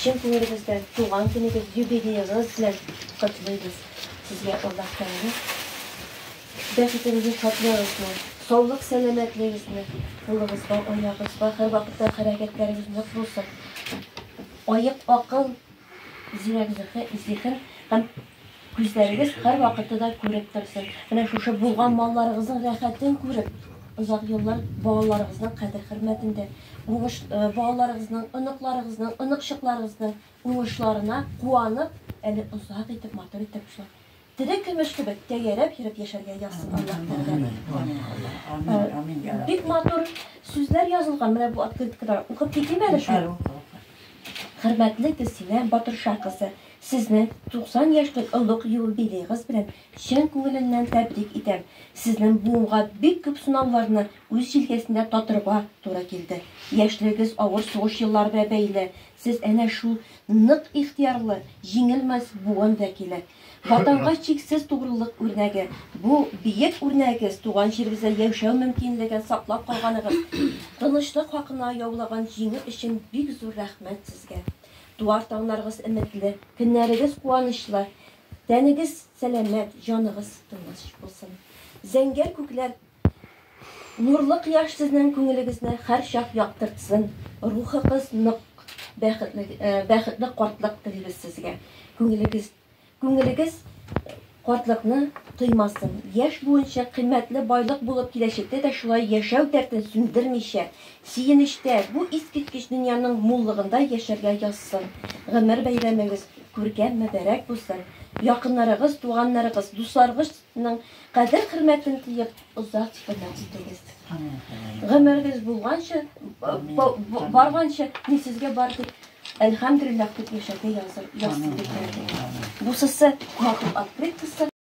Чын күңелебездән туган көнегез, юбилеегыз белән котлыйбыз. Сезгә Аллаһ Тәгалә бәхетегезне, шатлыгыгызны, саулык сәламәтлегегезне, кулыгызга, аягыгызга һәрвакытта хәрәкәтләрегез нык булсын. Аек акыл Зирәк зиһен һәм күзләрегез һәрвакытта да күреп торсын. Менә шушы булган малларыгызның рәхәтен күреп, озак еллар балаларыгызның кадер-хөрмәтендә, уңыш балаларыгызның, оныкларыгызның, оныкчыкларыгызның уңышларына куанып, әле озак итеп, матур итеп шул. Тере көмеш кебек тәгәрәп йөреп яшәргә язсын Аллаһ Тәгалә. Бик матур сүзләр язылган менә бу открыткада. Укып китим әле шул. Хөрмәтле Гөлсинә Батырша кызы, сезне 90 яшьлек олуг юбилеегыз белән чын күңеленнән тәбрик итәм. Сезнең буынга бик күп сынауларны үз җилкәсендә татырга туры килде. Яшьлегегез авыр сугыш еллары белән бәйле, Сез әнә шул нык ихтыярлы, җиңелмәс буын вәкиле. Ватанга чиксез тугрылык үрнәге. Бу биек үрнәгегез туган җирегездә яшәү мөмкинлеген саклап калганыгыз, тынычлык хакына яулаган җиңү өчен бик зур рәхмәт сезгә. Туар таңнарыгыз өметле, көннәрегез куанычлы, тәнегез сәламәт, җаныгыз тыныч булсын. Зәңгәр күкләр. Нурлы кояш сезнең күңелегезне һәрчак яктыртсын, рухыгыз нык, бәхетле бәхетле картлык телибез сезгә. Күңелегез күңелегез картлыкны тоймасын, яшь буынча кыйммәтле байлык булып киләчәктә дә шулай яшәү дәртен сүндермичә, сөенечтә, бу искиткеч дөньяның муллыгында яшәргә язсын. Гомер бәйрәмегез күркәм, мөбарәк булсын. Якыннарыгыз, туганнарыгыз, дусларыгыз ның кадер-хөрмәтен тоеп, озак тикәлләп җитегез. Гомергез булганча, барганча, мин сезгә бар дип, әлхәмдулиллах дип яшәргә язып, язып биргән. Бусысы матур открыткасы.